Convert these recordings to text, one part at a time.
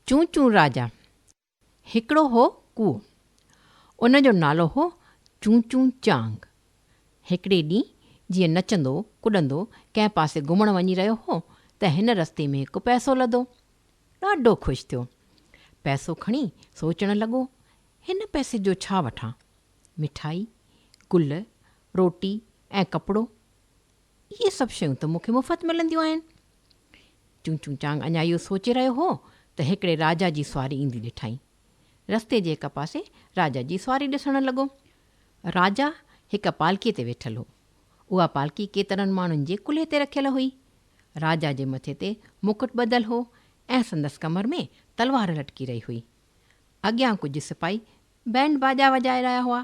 چون چون راجا، هڪڙو هو ڪوئو. ان جو نالو هو چون چون چانگ. هڪڙي ڏينهن جيئن نچندو ڪڏندو ڪنهن پاسي گهمڻ وڃي رهيو هو ته هن رستي ۾ هڪ پئسو لڌو. ڏاڍو خوش ٿيو. پئسو کڻي سوچڻ لڳو، هن پئسي جو ڇا وٺان؟ مٺائي، گل، روٽي ۽ ڪپڙو؟ اهي سڀ شيون ته مون کي مفت ملنديون آهن. چون چون چانگ اڃا اهو سوچي رهيو هو ته هڪڙي راجا جي سواري ايندي ڏٺائين. رستي جي هڪ پاسي راجا جي سواري ڏسڻ لڳو. راجا هڪ پالڪيء تي ويٺل هو. اها پالڪي ڪيترن ماڻهن جي ڪلهي تي رکيل هئي. راجا جي مٿي تي مڪٽ ٻڌل هو ۽ سندس ڪمر ۾ تلوار لٽڪي رهي هئي. اڳيان ڪجهه سپاهي بينڊ باجا وڄائي رهيا هئا.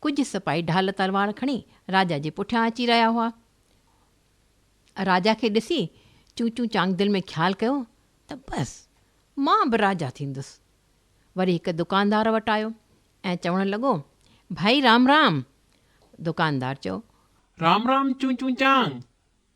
ڪجهه سپاهي ڍال تلوار کڻي راجا جي پٺيان اچي رهيا هئا. راجا کي ڏسي چون چون چانگ دل ۾ خيال ڪيو ته بس مان به راجا ٿيندس. وري هڪ دڪاندار وٽ آيو ۽ چوڻ لڳو، ڀائي رام رام. دڪاندار چيو. رام رام چون چون چانگ.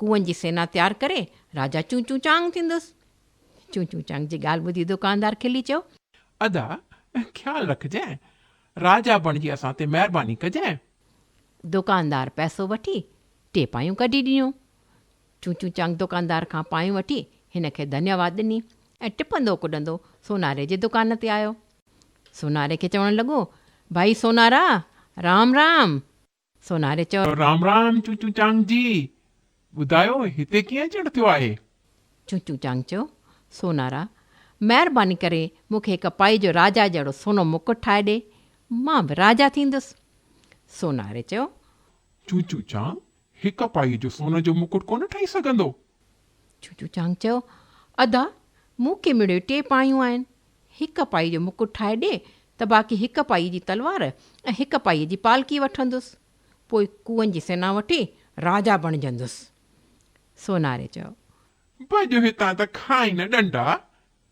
ڪوئن جي سينا تيار ڪري راجا چون چون چانگ ٿيندس. چون چون چانگ جي ڳالهه ٻڌي دوڪاندار کلي چيو. ادا خيال رکجانء. راجا بڻجي اسان تي مهرباني ڪجانء. دوڪاندار پئسو وٺي ٽي پايون ڪڍي ڏنيون. چون چون چانگ دوڪاندار کان پايون وٺي هن کي ڌنيا واد ڏني ۽ ٽپندو ڪڏندو سوناري جي دوڪان تي آيو. سوناري کي چوڻ لڳو، ڀائي سونارا! رام رام! سوناري چيو. رام رام چونچون چانگ جي. ٻڌايو هتي ڪيئن اچڻ ٿيو آهي؟ چونچون چانگ چيو. سونارا! مهرباني ڪري مون کي هڪ پائي جو راجا جهڙو سونو مڪٽ ٺاهي ڏي. مان به راجا ٿيندس. سوناري چيو. چونچون چانگ هڪ پائي جو سون جو مڪٽ ڪونه ٺاهي سگهندو. چوچو چانگ چيو، ادا، مون کي مڙئي ٽي پايون آهن، هڪ پائي جو مڪٽ ٺاهي ڏي ته باقي هڪ پائي جي تلوار ۽ هڪ پائي جي پالڪي وٺندس، پوء ڪوئن جي سينا وٺي راجا بڻجندس. سوناري چيو. ڀڄ هتان ته کائين نه ڏنڊا.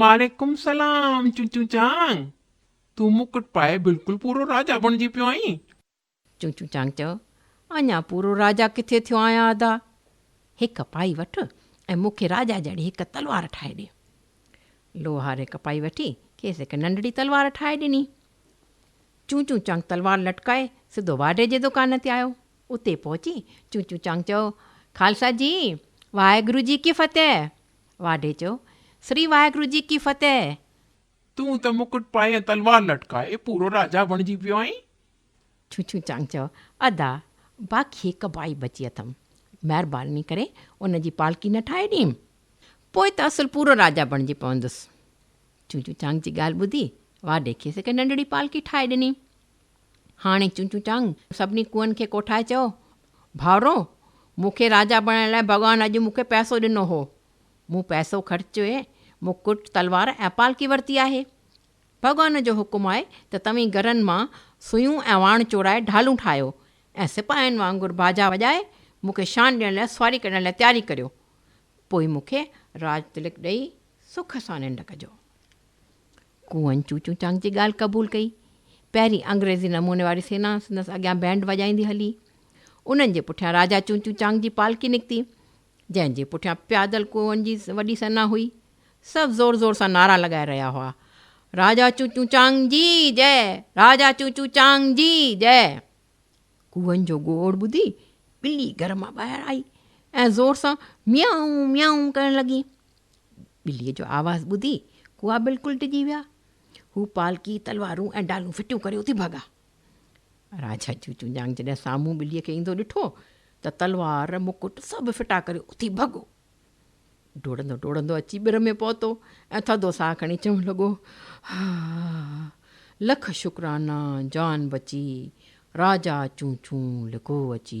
وعليڪم السلام چونچون چانگ تون مڪٽ پائي بلڪل پورو راجا بڻجي پيو آهين. چونچون چانگ چيو اڃا پورو راجا ڪٿي ٿيو آهيان ادا هڪ پائي وٺ ۽ مون کي راجا جهڙي هڪ تلوار ٺاهي ڏي. لوهار هڪ پائي وٺي کيس هڪ ننڍڙي تلوار ٺاهي ڏني. چونچون چانگ تلوار لٽڪائي سڌو واڍي جي دڪان تي آيو. اتي پهچي چونچون چانگ چيو خالصا جي واهي گرو جي ڪي فتح. واڍي چيو، سري واهگرو جي ڪي فتح! تون ته مڪٽ پائي ۽ تلوار لٽڪائي پورو راجا بڻجي پيو آهين. ڇو ڇو چانگ چيو، ادا، باقي هڪ ڀائي بچي اٿم، مهرباني ڪري ان جي پالڪي نه ٺاهي ڏيم، پوء ته اصل پورو راجا بڻجي پوندس. ڇو ڇو چانگ جي ڳالهه ٻڌي واڍي کيس هڪ ننڍڙي پالڪي ٺاهي ڏني. هاڻي چونچون چانگ سڀني ڪوئن کي ڪوٺائي چيو، ڀائرو! مون کي راجا بڻائڻ لاء ڀڳوان اڄ مون کي پئسو ڏنو هو. مون پئسو خرچي مڪٽ، تلوار ۽ پالڪي ورتي آهي. ڀڳوان جو حڪم آهي ته توهين گرن مان سوئيون ۽ واڻ چورائي ڍالون ٺاهيو ۽ سپاهين وانگر باجا وڄائي مون کي شان ڏيڻ لاء سواري ڪڍڻ لاء تياري ڪريو. پوء مون کي راج تلڪ ڏئي سک سان ننڊ ڪجو. ڪوئن چوچون چانگ جي ڳالهه قبول ڪئي. پهرين انگريزي نموني واري سينا سندس اڳيان بينڊ وڄائيندي هلي. انهن جي پٺيان راجا چوچون چانگ جي پالڪي نڪتي، جنهن جي پٺيان پيادل ڪوئن جي وڏي سينا هئي. سڀ زور زور سان نعرا لڳائي رهيا هئا، راجا چوچون چانگ جي جئه، راجا چوچون چانگ جي جئه. ڪوئن جو گوڙ ٻڌي ٻلي گهر مان ٻاهر آئي ۽ زور سان ميائون ميائون ڪرڻ لڳي. ٻليء جو آواز ٻڌي ڪوئا بلڪل ڊڄي ويا هو پالڪي تلوارون ۽ ڊالون ڦٽيون ڪري اٿي ڀڳا راجا چوچو جانگ جڏهن سامهون ٻليء کي ايندو ڏٺو ته تلوار مڪٽ سڀ ڦٽا ڪري اٿي ڀڳو ڊوڙندو ڊوڙندو اچي ٻر ۾ پهتو ۽ ٿڌو ساهه کڻي چوڻ لڳو لک شڪرانا جان بچي راجا چون چون لڪو اچي